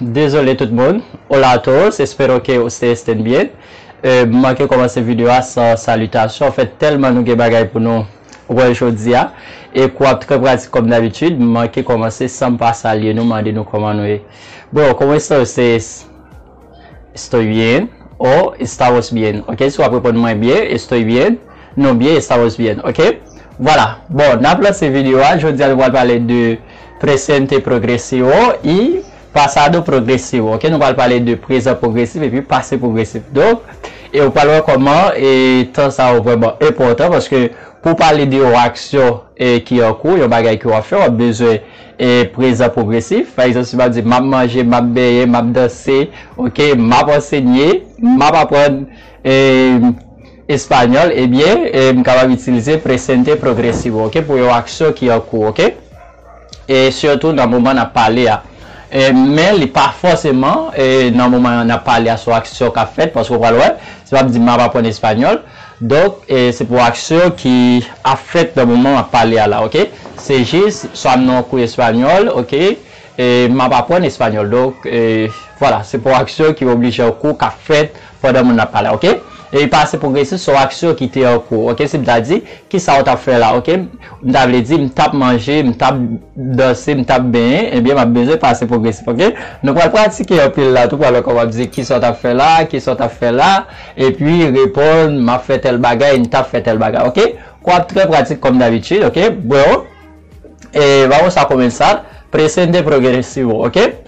Dezole tout moun, Hola a todos, espero que ustedes estén bien M manke kòmanse video a san salitasyon an fèt tèlman nou gen bagay pou nou wè jodi a e kou ap trè pratik kòm dabitid m manke kòmanse san m pa salye nou mande nou kòman nou ye Bro, como está ustedes? Estoy bien o Estamos bien ok si w ap reponn mwen byen Estoy bien Nou byen Estamos bien ok Vwala Bon n ap lanse video a jodi a nou pral pale de Presente progresivo y pasado progresivo ok nou pral pale de prezan pwogresif epi pase pwogresif donk e ou pral wè kòman e tan sa yo vrèman enpòtan paske pou pale de yon aksyon e ki an kou yon bagay ke wap fè wap bezwen e prezan pwogresif pa egzanp si map di map manje map benyen map danse ok map ansenye map aprann e. Español ebyen m kapab itilize presente progresivo ok pou yon aksyon ki an kou ok e sitou nan moman n ap pale a men li pa fòseman nan moman n ap pale a sou aksyon k ap fèt paske w pral wè se pa m di m ap aprann español donk se pou aksyon ki ap fèt nan moman m ap pale a la ok se jis sa m nan yon kou español ok e m ap aprann español donk vwala se pou aksyon ki oblije an kou k ap fèt Pandan moun nan ap pale ok. Epi pase pwogresis sou aksyon ki te an kou ok si m ta di, kisa ou t ap fè la ok m ta vle di m t ap manje m t ap danse m t ap benyen ebyen m ap bezwen pase pwogresif ok nou pral pratike anpil la tou pral wè kòman w ap di kisa w t ap fè la kisa w t ap fè la epi reponn m ap fè tèl bagay m t ap fè tèl bagay ok kò ap trè pratik kòm dabitid ok bro e vamos a comenzar presente progresivo ok.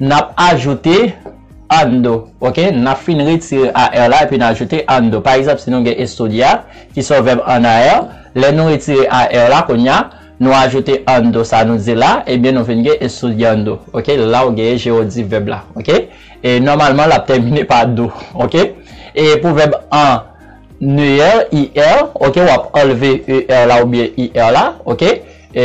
Nap ajoute ann do. Ok nap fin retire AR la epi n ajoute ann do. Pa egzanp si nou gen estudiar ki se yon vèb an AR, lè nou retire AR la kounya nou ajoute ann do sa nou di la ebyen nou vin gen estudiando. Ok la ou gen jerodif vèb la. Ok e nòmalman lap tèmine pa do. Ok e pou vèb an ER, IR, ok wap anlve ER la oubyen IR la. Ok e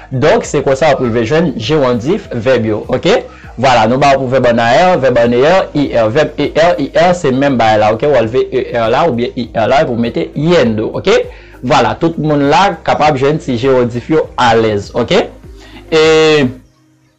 Donk, se konsa w ap rive jwenn jewondif vèb yo. Oke? Vwala, nou ba w pou vèb an a er, vèb an e er, i er. Vèb e er, i er, se menm bagay la. Oke? W anlve e er la oubyen i er la epi w mete yendo. Oke? Vwala, tout moun la kapab jwenn ti jewondif yo alèz. Oke? E.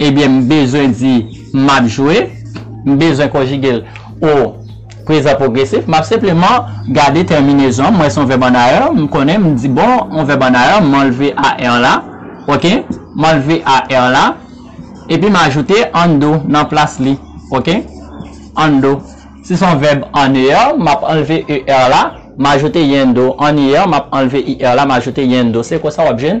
Ebyen m bezwen di m ap jwe, m bezwen konjige l o prezan pwogresif, m ap senpleman gade tèminezon an, m wè se yon vèb an ayè, m konnen, m di bon, yon vèb an ayè, m anlve AR la, ok, m anlve AR la, epi m ajoute an do nan plas li, ok, an do. Si se yon vèb an ER, m ap anlve ER la, m ajoute yn do, an IR, m ap anlve IR la, m ajoute yn do. Se konsa w ap jwenn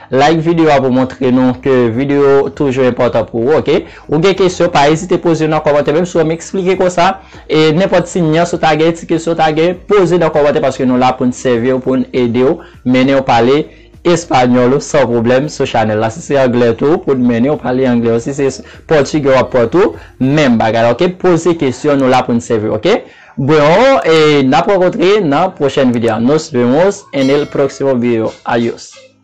Like video a pou montre nou ke video toujou enpòtan pou ou ok. Ou gen kesyon pa ezite poze yo nan kòmantè menm si wèm eksplike konsa e nenpòt ti nyans ou ta gen ti kesyon ou ta gen poze nan kòmantè paske nou la poun sèviw poun edew mennenw pale Español ou san pwoblèm sou chanèl la si se anglè tou poun mennenw pale anglè ou si se pòtigè wap pran tou menm bagay la ok poze kesyon nou la poun sèviw ok Bro e nap rankontre nan pwochèn video nos vemos en el próximo video Adios.